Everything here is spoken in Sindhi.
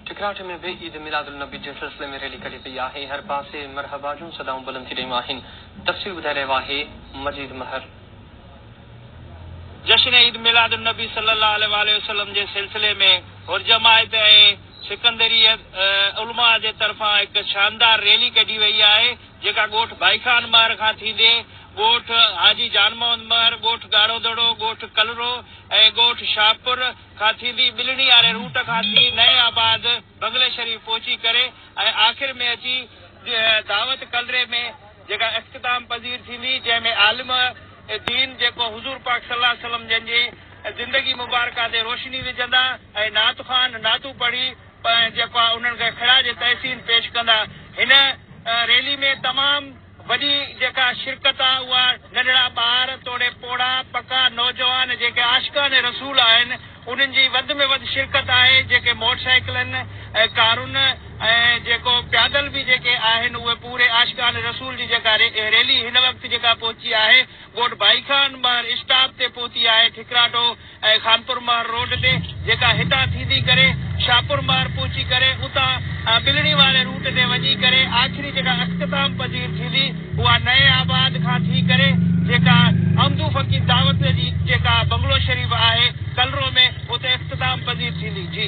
ٺڪراٺ ۾ به عيد ميلاد النبي جي سلسلي ۾ ريلي ڪڍي پئي آهي، هر پاسي مرحبا جون صدائون بلند ٿي رهيون آهن، تفصيل ٻڌائي رهيو آهي مجيد مهر. جشن عيد ميلاد النبي صلي الله عليه واٰله وسلم جي سلسلي ۾ حرجماعت ۽ سڪندريه علماء جي طرفان هڪ شاندار ريلي ڪڍي وئي آهي، جيڪا ڳوٺ ڀائي خان مهر کان ٿيندي ڳوٺ حاجي جان محمد مهر، ڳوٺ ڳاڙهو دڙو، ڳوٺ ڪلرو ۽ ڳوٺ شاهپور، کان ٿيندي ٻلڙي واري روٽ کان ٿي نئين آباد، بنگلي شريف پهچي ڪري ۽ آخر ۾ اچي دعوت ڪلري ۾ جيڪا اختتام پذير ٿيندي جنهن ۾ عالم دين جيڪو حضور پاڪ صلي الله عليه وسلم جن جي زندگي مبارڪه تي روشني وجهندا ۽ نعت خوان نعتون پڙهي جيڪو آهي انهن کي خراج تحسين پيش ڪندا هن ريلي ۾ تمام وڏي جيڪا شرڪت آ اها ننڍڙا ٻار توڙي پوڙها پڪا نوجوان جيڪي عاشقان رسول آهن انهن جي وڌ ۾ وڌ شرڪت آهي جيڪي موٽر سائيڪلن ۽ ڪارن ۽ جيڪو پيادل به جيڪي آهن اهي پوري عاشقان رسول جي جيڪا ريلي هن وقت جيڪا پهچي آهي ڳوٺ ڀائي خان ٻاهر اسٽاپ تي پهتي آهي ٺڪراٺو ۽ خانپور مهر روڊ تي جيڪا هتان ٿيندي ڪري شاهپور مهر پهچي ڪري اتان ٻلڙي واري روٽ تي وڃي ڪري آخري جيڪا اختتام پذير ٿيندي اها نئين آباد کان ٿي ڪري جيڪا عمدو فقير دعوت جي جيڪا بنگلو شريف آهي ڪلرو ۾ اتي اختتام پذير ٿيندي جي.